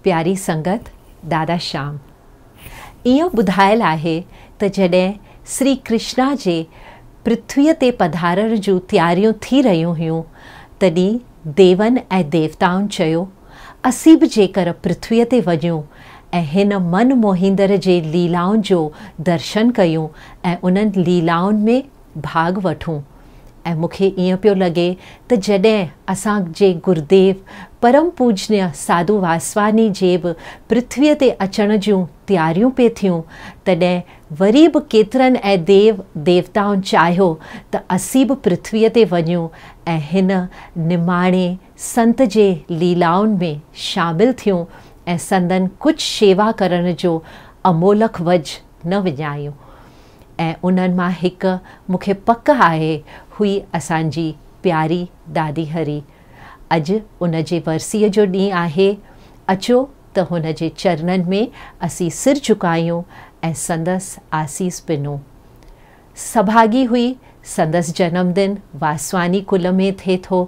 پياري سنگت دادا شام ايئن ٻڌايل آهي ته جڏهن سري ڪرشنا جي پرٿويء تي پڌارڻ جون تياريون ٿي رهيون هيون تڏهن ديون ۽ ديوتائن چيو اسين به جيڪر پرٿويء تي وڃون ۽ هن من موهيندڙ جي ليلائن جو درشن ڪيون ۽ انهن ليلائن ۾ ڀاڳ وٺون ۽ مون کي ائين پيو لڳي ته جڏهن اسان جي گرديو پرم پوجنيه ساڌو واسواني جي به پرٿويء تي اچڻ جون تياريون پي ٿيون تڏهن وري به ڪيترن ۽ ديو ديوتائن چاهيو ته اسين به پرٿويء تي وڃون ۽ هن نماڻي سنت جي ليلائن ۾ شامل ٿيون ۽ سندن ڪجهه شيوا ڪرڻ جو امولڪ وجهه نه وڃايون. ۽ انهن مان هڪ مون کي پڪ آهي هئي اسان جي پياري دادي هري. اڄ ان جي ورسيء جو ڏينهن آهي، اچو ته هن جي چرنن ۾ اسين سر جهڪايون ۽ سندس آسيس پنون. سڀاڳي هئي، سندس جنم دن واسواني ڪل ۾ ٿئي ٿو.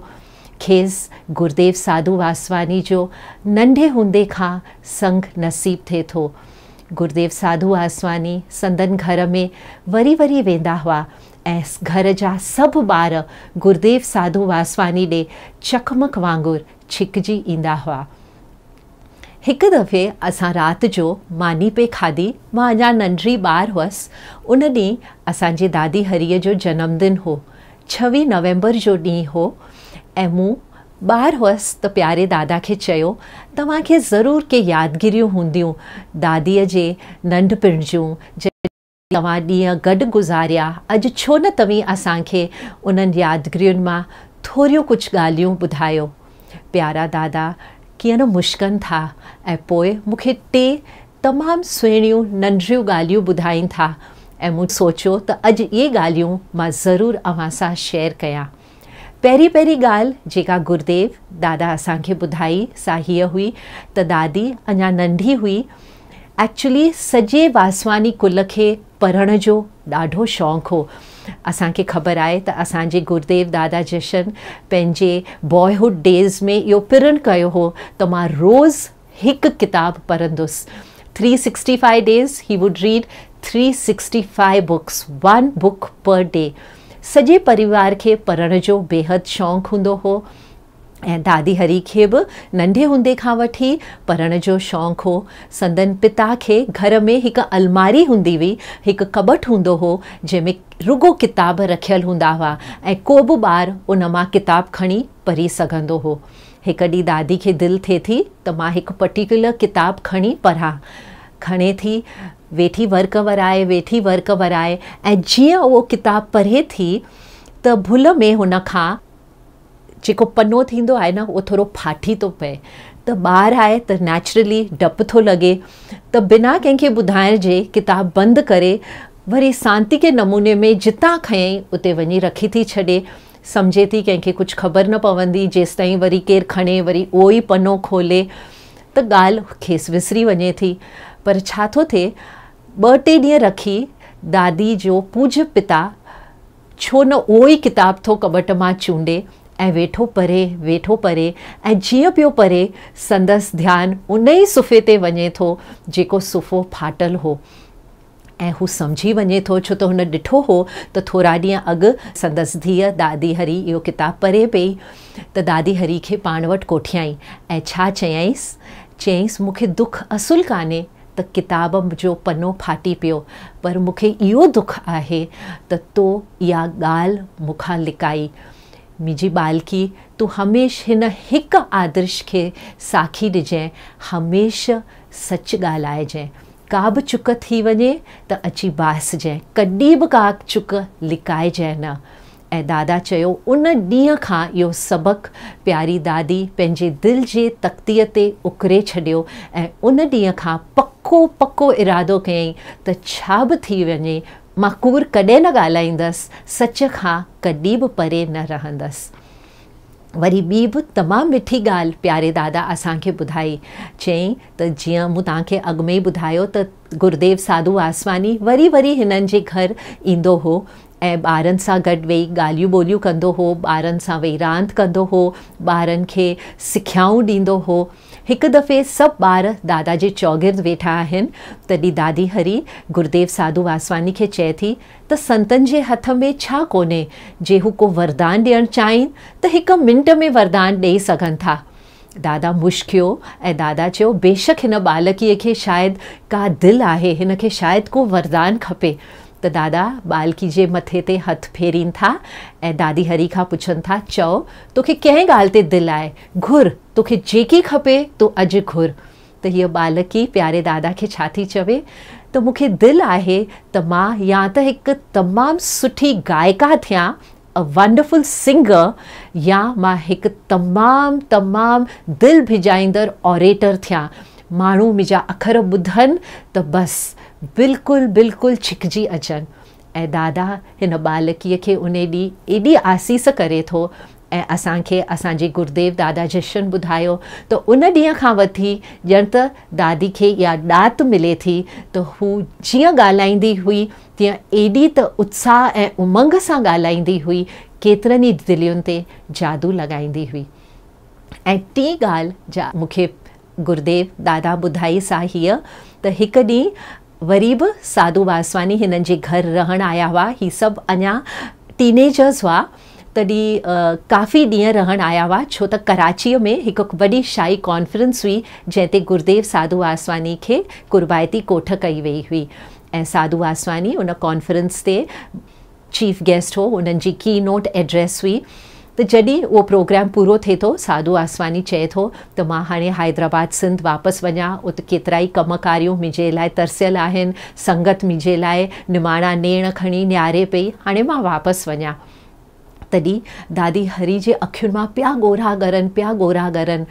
کيس گرديو ساڌو واسواني جو ننڍي هوندي کان سڱ نصيب ٿئي ٿو. گرديو ساڌو آسواني سندن گهر ۾ وري وري ويندا هئا ۽ گهر جا سڀ ٻار گرديو ساڌو واسواني ڏي چقمق وانگر ڇڪجي ايندا هئا. هڪ دفعي اسان رات جو ماني پئي کاڌي، مان اڃا ننڍڙي ٻار هئس، ان ڏينهن اسان جي دادي هريء جو جنم دن هو، ڇويهه نومبر جو ڏينهن هو ۽ مون ٻار هئس ته پياري دادا کي چيو، توهان کي ضرور ڪي يادگيريون هونديون داديء جي ننڍپڻ جون، جڏهن توهان ڏينهن گڏ گذاريا، اڄ ڇو نه توهين اسان کي انهن يادگيرين مان ٿوريون ڪجهه ڳالهيون ٻڌايو. پيارا دادا ڪيئن نه مشڪن ٿا ۽ پوء مون کي ٽي تمام سهڻيون ننڍڙيون ڳالهيون ٻڌائين ٿا ۽ مون سوچيو ته اڄ اهي ڳالهيون مان ضرور اوهان سان شيئر ڪيان. پهرين پهرين ڳالهه جيڪا گرديو دادا اسان کي ٻڌائي سا هيء هئي ته دادي اڃا ننڍي هئي ايڪچولي سڄي واسواني ڪل کي پڙهڻ جو ڏاڍو شوق هو اسان کي خبر آهي ته اسان جي گرديو دادا جشن پنهنجي بوائهوڊ ڊيز ۾ اهو پرڻ ڪيو هو ته مان روز هڪ ڪتاب پڙهندس three sixty five days he would read three sixty five books one book per day سڄي پريوار کي پڙهڻ جو بيحد شونق هوندو هو ۽ دادي هري کي به ننڍي هوندي کان وٺي پڙهڻ جو شونق هو سندن پتا کي گهر ۾ هڪ الماري هوندي هئي هڪ ڪٻٽ هوندو هو جنهن ۾ رڳو ڪتاب رکيل هوندا هئا ۽ ڪوبه ٻار ان مان ڪتاب کڻي پڙهي سگهندو هو هڪ ڏينهن دادي کي دل ٿئي ٿي ته مان هڪ پرٽيڪيولر ڪتاب کڻي پڙهان. کڻي ٿي ويٺي ورق ورائي ويٺي ورق ورائي ۽ جيئن اهو ڪتاب پڙهي ٿي ته ڀل ۾ هن کان جيڪو پنو ٿيندو آهي نه اهو ٿورو ڦاٽي ٿو پئي ته ٻار آهي ته نيچرلي ڊپ ٿو لڳي ته بنا ڪنهن کي ٻڌائڻ جي ڪتاب بند ڪري وري سانتيڪي نموني ۾ جتان کنيائين اتي وڃي رکي ٿي ڇڏي سمجهي ٿي ڪنهن کي ڪجهه خبر نه پوندي جيستائين وري ڪير کڻي وري اهو ئي پنو کولي ته ڳالهه کيس وسري وڃي ٿي پر ڇا ٿو ٿئي ٻه ٽي ڏينهن رکي دادي جو پوجهه پتا ڇو نه اهو ئي ڪتاب ٿو ڪٻٽ مان چونڊي ۽ ويٺو پري ويٺو پري ۽ جيئن پيو پري سندس ڌيان ان ئي صفحي تي وڃي ٿو جيڪو صفحو ڦاٽل هو. ۽ هو سمجهي وڃي ٿو ڇو ته هن ڏٺو هو ته ٿورا ڏينهن اڳ سندس ڌيء دادي هري اهو ڪتاب پري پئي ته دادي هري کي پاڻ وٽ ڪوٺيائين ۽ ڇا چيائينس؟ چيائينس مون کي دک اصل ڪانهي ته ڪتاب جو پنو ڦاٽي پيو پر مون کي اهو دک آهي ته تو اها ڳالهه مون کان لڪائي. منهنجي ٻالڪي تون هميشھ هن هڪ آدرش کي ساکي ڏجئين هميشھ سچ ڳالهائجئين ڪا به چڪ ٿي وڃي ته اچي باهسجئين، ڪڏي به ڪا چڪ لڪائجئين نه. ۽ دادا چيو ان ڏينهن کان اهو سبق پياري دادي پنهنجي دل جي تختيء تي اڪري ڇڏيو ۽ ان ڏينهن کان پڪو پڪو ارادو ڪيائين ته ڇا به ٿي وڃي مان ڪوڙ ڪڏهن نه ڳالهائيندس، سچ کان ڪڏي به پري نه رهندس. وري ٻي به تمام مٺي ڳالهه پياري دادا اسان کي ٻڌائي، چيائين ته جيئن مون توهان کي اڳ ۾ ئي ٻڌايو ته گرديو ساڌو واسواني وري وري هنن جي گهر ايندو هو ۽ ٻارن سان گڏ ويهي ڳالهيون ٻولهيون ڪندو هو، ٻارن سان ويهي راند ڪندو هو، ٻارن کي سکيائون ڏيندو هو. هڪ دفعي سڀ ٻار دادا جي چوگرد ويٺا آهن، تڏهن دادي هري گرديو ساڌو واسواني کي چئي ٿي، ته سنتن جي هٿ ۾ ڇا ڪونهي، جي هو ڪو وردان ڏيڻ چاهين ته هڪ منٽ ۾ وردان ڏئي سگهن ٿا. دادا مشڪيو ۽ دادا چيو بيشڪ هن ٻالڪيء کي شايد ڪا دل آهي، هن کي شايد ڪو وردان کپي ته دادا ٻالڪي جي مٿي تي هٿ ڦيرين ٿا ۽ دادي هري کان پڇن ٿا چئو توکي ڪنهن ڳالهه تي دل آهي گهر توکي جيڪي کپي تون اڄ گهر. ته هيء ٻالڪي پياري دادا کي ڇا ٿي چوي ته مون کي دل آهي ته مان يا ته هڪ تمام سٺي گائيڪا ٿيان، A Wonderful Singer، يا مان هڪ تمام تمام دل ڀڄائيندڙ Orator ٿيان، ماڻهو منهنجا اکر ٻڌن ته بس بلڪل بلڪل ڇڪجي اچن. ۽ دادا هن ٻالڪيء کي انهي ڏينهن ايڏي آسيس ڪري ٿو ۽ اسان کي اسان جي گرديو دادا جشن ٻڌايو ته ان ڏينهن کان وٺي ڄڻ ته دادي کي اها ڏات ملي ٿي ته هو جيئن ڳالهائيندي هئي تيئن ايڏي ته اتساهه ۽ امنگ سان ڳالهائيندي هئي ڪيترن ئي دلين تي جادو لڳائيندي هئي ۽ ٽين ڳالهه جا مون کي گرديو دادا ٻڌائي سا هيء ته هڪ ڏينهن وري به ساڌو واسواني هنن جي گهر رهڻ آيا هئا. هي سڀ اڃا ٽينيجرز هئا تڏهن ڪافي ڏينهن رهڻ آيا هئا ڇو ته ڪراچيء ۾ هڪ وڏي شاهي ڪانفرنس هئي جنهن تي گرديو ساڌو واسواني کي قربائتي ڪوٺ ڪئي ويئي هئي ۽ ساڌو واسواني ان ڪانفرنس تي چيف گيسٽ هو انهن جي ڪي نوٽ ايڊريس هئي ته جڏهن اهو پروگرام پورو ٿئي ٿو سعدو آسواني چئي ٿو ته مان هاڻي حيدرآباد سنڌ واپس وڃان ات ڪيترائي ڪم ڪاريون منهنجي لاء ترسيل آهن سنگت منهنجي لاء نماڻا نيڻ کڻي نهاري پئي هاڻي مان واپس وڃان تڏهن دادي هري جي اکين مان پيا ڳورا ڳرن پيا ڳورا ڳرن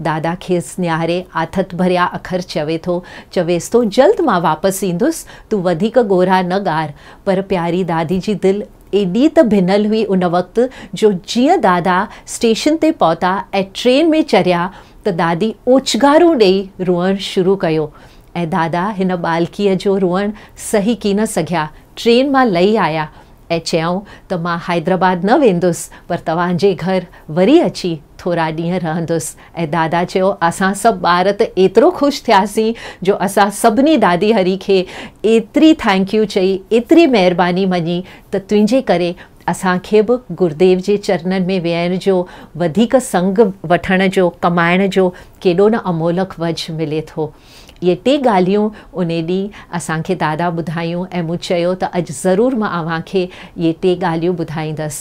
دادا کيس نهاري آٿت ڀريا اکر چوي ٿو چويس ٿو جلد مان واپس ايندس تون وڌيڪ ڳورا نه ڳار پر پياري دادي جي دل ايڏي ته ڀنل هئي ان وقت جو جيئن دادا اسٽيشن تي پهتا ۽ ٽرين ۾ چريا ته دادي اوڇگارون ڏيئي روئڻ شروع ڪيو ۽ دادا هن ٻالڪيء جو روئڻ سهي ڪين سگهيا ٽرين مان لهي آيا ۽ چيائون ته مان حيدرآباد نه ويندس پر توهان جي گهر وري اچي ٿورا ڏينهن رهندس ۽ دادا چيو، اسان سڀ ٻار ته ايترو خوش ٿياسين جو اسان سڀني دادي هري کي ايتري ٿئنڪ يو چئي، ايتري مهرباني مڃي ته تنهنجي ڪري اسان کي به گرديو جي چرنن ۾ ويهڻ جو، وڌيڪ سنگ وٺڻ جو، ڪمائڻ جو ڪيڏو نه امولڪ وجهه ملي ٿو. اهي ٽي ڳالهيون انهي ڏينهن اسان کي دادا ٻڌايون ۽ مون چيو ته اڄ ضرور مان اوهان کي اهي ٽي ڳالهيون ٻڌائيندس.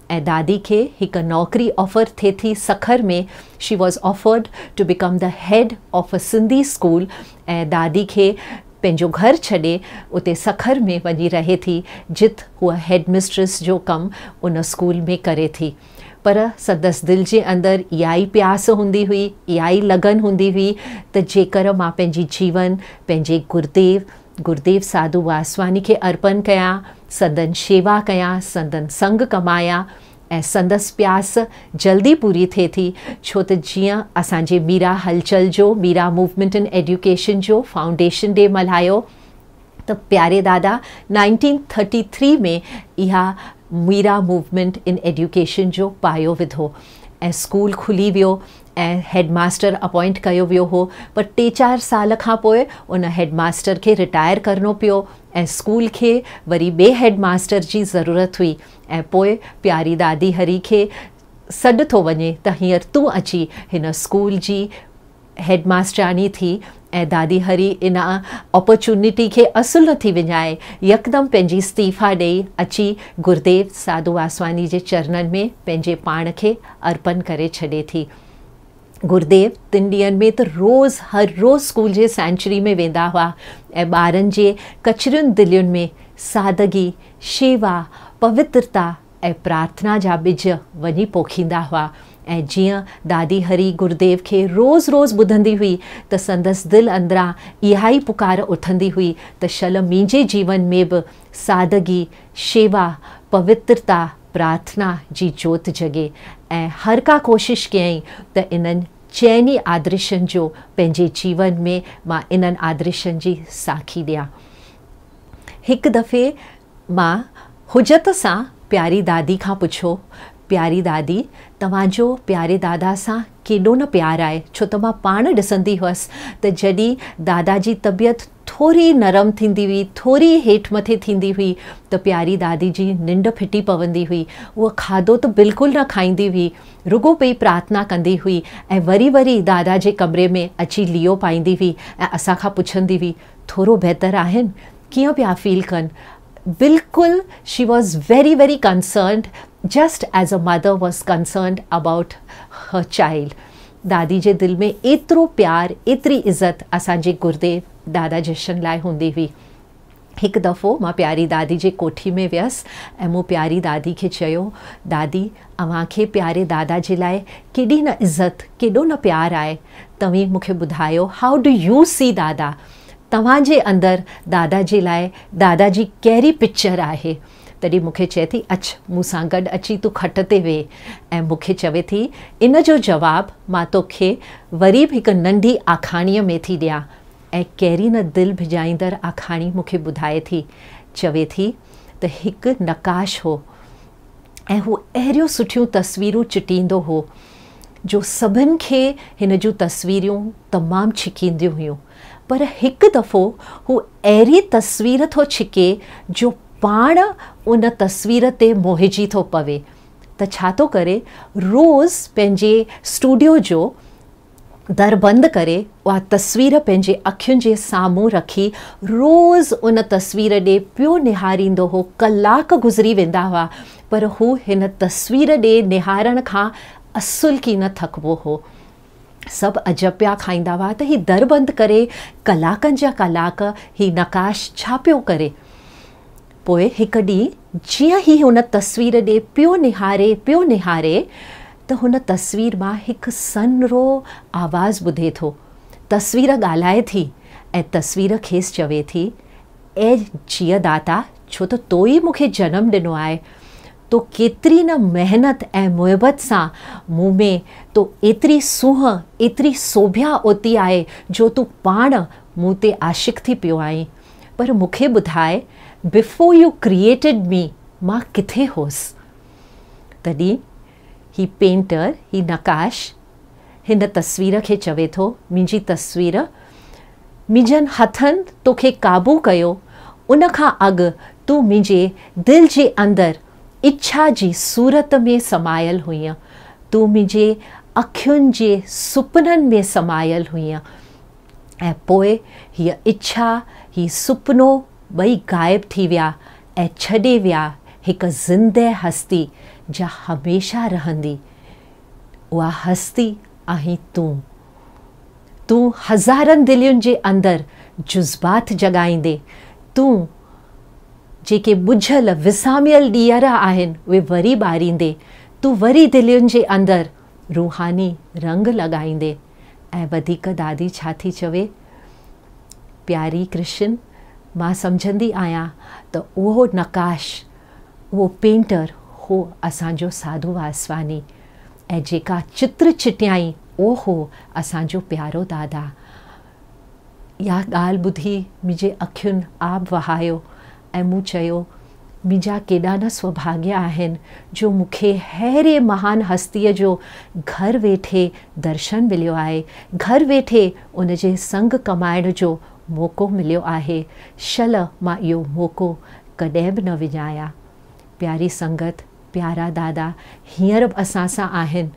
۽ دادي کي هڪ نوڪري آفر ٿئي ٿي Sukkur ۾، she was offered to become the head of a Sindhi school ۽ دادي کي پنهنجو گهر ڇڏي اتي سکر ۾ وڃي رهي ٿي جت هوء هيڊ مسٽريس جو ڪم ان اسڪول ۾ ڪري ٿي پر سندس دل جي اندر اهائي پياس هوندي هئي اهائي لگن هوندي هئي ته جيڪر مان پنهنجي جيون پنهنجي گرديو گروديو ساڌو واسواني کي ارپن ڪيا، سندن شيوا ڪيا، سندن سنگ ڪمايا ۽ سندس پياس جلدي پوري ٿئي ٿي ڇو ته جيئن اسان جي ميرا هلچل جو، ميرا موومينٽ ان ايڊيوڪيشن جو فائونڊيشن ڊي ملهايو ته پياري دادا نائنٽين ٿرٽي ٿري ۾ اها ميرا موومينٽ ان ايڊيوڪيشن جو پايو وڌو ۽ اسڪول کلي ويو ۽ هيڊ ماستر اپوائنٽ ڪيو ويو هو پر ٽي چار سال کان پوء ان هيڊ ماستر کي رٽائر ڪرڻو پيو ۽ اسڪول کي وري ٻي هيڊ ماستر جي ضرورت هئي ۽ پوء پياري دادي هري کي سڏ ٿو وڃي ته هينئر تون اچي هن اسڪول جي هيڊ ماسترياڻي ٿي اي دادي هري ان اپرچونٽي کي اصل نه ٿي وڃائي، يڪدم پنهنجي استعيفيٰ ڏئي اچي گرديو ساڌو واسواني جي چرنن ۾ پنهنجي پاڻ کي ارپن ڪري ڇڏي ٿي. گرديو تن ڏينهن ۾ ته روز هر روز اسڪول جي سينچري ۾ ويندا هئا ۽ ٻارن جي ڪچرين دلين ۾ سادگي، شيوا، پوترتا، ۽ پرارٿنا جا ٻج وڃي پوکيندا هئا ۽ جيئن دادي هري گروديو کي روز روز ٻڌندي هئي ته سندس دل اندران اها ئي پڪار اٿندي هئي ته شل مينجي جيون ۾ به سادگي، شيوا، پوترتا، پرارٿنا جي جوت جڳي ۽ هر ڪا ڪوشش ڪيائين ته انهن چئني آدرشن جو پنهنجي جيون ۾ مان انهن آدرشن جي ساکي ڏيان. هڪ دفعي مان حجت سان پياري دادي کان پڇيو، پياري دادي، توهان جو پياري دادا سان ڪيڏو نه پيار آهي، ڇو ته مان پاڻ ڏسندي هئس ته جڏهن دادا جي طبيعت ٿوري نرم ٿيندي هئي، ٿوري هيٺ مٿي ٿيندي هئي ته پياري دادي جي ننڊ ڦٽي پوندي هئي. هوء کاڌو ته بلڪل نه کائيندي هئي، رڳو پئي پرارٿنا ڪندي هئي ۽ وري وري دادا جي ڪمري ۾ اچي ليئو پائيندي هئي ۽ اسان کان پڇندي هئي، ٿورو بهتر آهن ڪيئن پيا فيل ڪن بلڪل she was very very concerned just as a mother was concerned about her child دادي جي دل ۾ ايترو پيار ايتري عزت اسان جي گرديو دادا جشن لاء هوندي هئي هڪ دفعو مان پياري دادي جي ڪوٺي ۾ ويس ۽ مون پياري دادي کي چيو دادي اوهان کي پياري دادا جي لاء ڪيڏي نه عزت ڪيڏو نه پيار آهي توهين مون کي ٻڌايو how do you see Dada توهان جي اندر دادا جي لاء دادا جي ڪهڙي پڪچر آهي تڏهن مون کي چئي ٿي اچ مون سان گڏ اچي تون کٽ تي ويهه ۽ مون کي چوي ٿي ان جو جواب مان تو کي وري به هڪ ننڍي آکاڻي ۾ ٿي ڏيان ۽ ڪهڙي نه دل ڀڄائيندڙ آکاڻي مون کي ٻڌائي ٿي چوي ٿي ته هڪ نقاش هو ۽ هو اهڙيون سٺيون تصويرون چٽيندو هو جو سڀن کي هن جون تصويريون تمام ڇڪينديون هيون پر هڪ دفعو هو اهڙي تصوير ٿو ڇڪي جو پاڻ ان تصوير تي موهجي ٿو پوي ته ڇا ٿو ڪري روز پنهنجي اسٽوڊيو جو در بند ڪري اها تصوير پنهنجي اکين جي سامهون رکي روز ان تصوير ڏي پيو نهاريندو هو ڪلاڪ گذري ويندا هئا پر هو هن تصوير ڏي نهارڻ کان اصل ڪي نه ٿڪبو هو. سڀ عجب پيا کائيندا هئا ته هي در بند ڪري ڪلاڪن جا ڪلاڪ هي نقاش ڇا پيو ڪري؟ پوء هڪ ڏينهن جيئن هي هن تصوير ڏي پيو نهاري پيو نهاري ته هن تصوير مان هڪ سنرو آواز ٻڌي ٿو. تصوير ڳالهائي ٿي ۽ تصوير کيس چوي ٿي، اي جيء داتا! ڇو ته تو ئي مون کي جنم ڏنو آهي. تو ڪيتري نه محنت ۽ محبت سان مون ۾ تو ايتري سونهن، ايتري سوڀيا اوتي آهي جو تون پاڻ مون تي عاشق ٿي پيو آهين. پر مون کي ٻڌاء، Before you created me، مان ڪٿي هوس؟ تڏهن هي پينٽر، هي نقاش، هن تصوير کي چوي ٿو، منهنجي تصوير، منهنجن هٿن توکي قابو ڪيو، ان کان اڳ تون منهنجي دل جي اندر اڇا جي صورت ۾ سمايل هئينء، تون منهنجي اکين جي سپنن ۾ سمايل هئينء ۽ پوء هيء اڇا، هي سپنو ٻئي غائب ٿي ويا ۽ ڇڏي ويا هڪ زنده هستي جا هميشه رهندي اها هستي آهين تون تون هزارن دلين جي اندر جذبات جڳائيندي تون جيڪي ٻجهل وساميل ڏيئرا آهن اهي وري ٻاريندي تون وري دلين جي اندر روحاني رنگ لڳائيندي ۽ وڌيڪ دادي ڇا ٿي چوي؟ پياري ڪرشن، مان سمجهندي آهيان ته اهو نقاش، اهو پينٽر هو اسان جو ساڌو واسواني ۽ جيڪا چتر چٽيائين اهو هو اسان جو پيارو دادا. اها ڳالهه ٻڌي منهنجي اکين آب وهايو ۽ مون چيو، منهنجا ڪيڏا نه سوڀاڳيا آهن جو مون کي ههڙي مهان هستيء جو گهر ويٺي درشن مليو آهي، گهر ويٺي ان جي سنگ ڪمائڻ جو موقعو مليو آهي، شل مان اهو موقعو ڪڏهن به نه وڃايان. پياري سنگت! پيارا دادا هينئر به اسان سان آهن،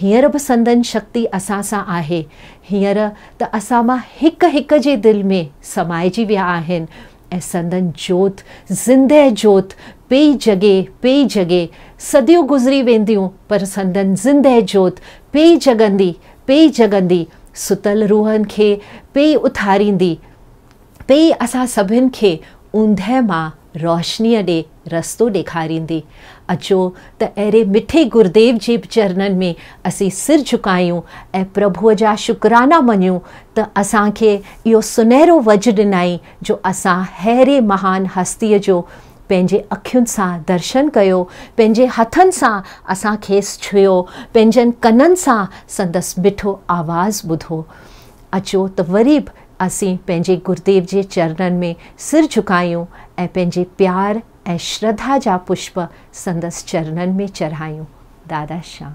هينئر به سندن شڪتي اسان سان آهي، هينئر ته اسان مان هڪ هڪ جي دل ۾ سمائجي ويا آهن ۽ سندن جوت، زندهه جوت، پئي جڳي، پئي جڳي، صديون گذري وينديون پر سندن زندهه جوت پئي جڳندي، پئي جڳندي، ستل روحن کي پئي اٿاريندي. پي اسان سڀن کي اوندهه مان روشنيء ڏي رستو ڏيکاريندي. اچو ته اهڙي مٺي گرديو جي چرنن ۾ اسين سر جهڪايون ۽ پرڀوء جا شڪرانا مڃون ته اسان کي اهو سنهرو وجهه ڏنائين جو اسان ههڙي مهان هستيء جو پنهنجي اکين سان درشن ڪيو، پنهنجي هٿن سان اسان کيس ڇهيو، پنهنجن ڪنن سان سندس مٺو آواز ٻڌو. اچو ته وري به اسين پنهنجي گروديو جي چرنن ۾ سر جهڪايون ۽ پنهنجي پيار ۽ شرڌا جا پشپ سندس چرنن ۾ چڙهايون. دادا شام.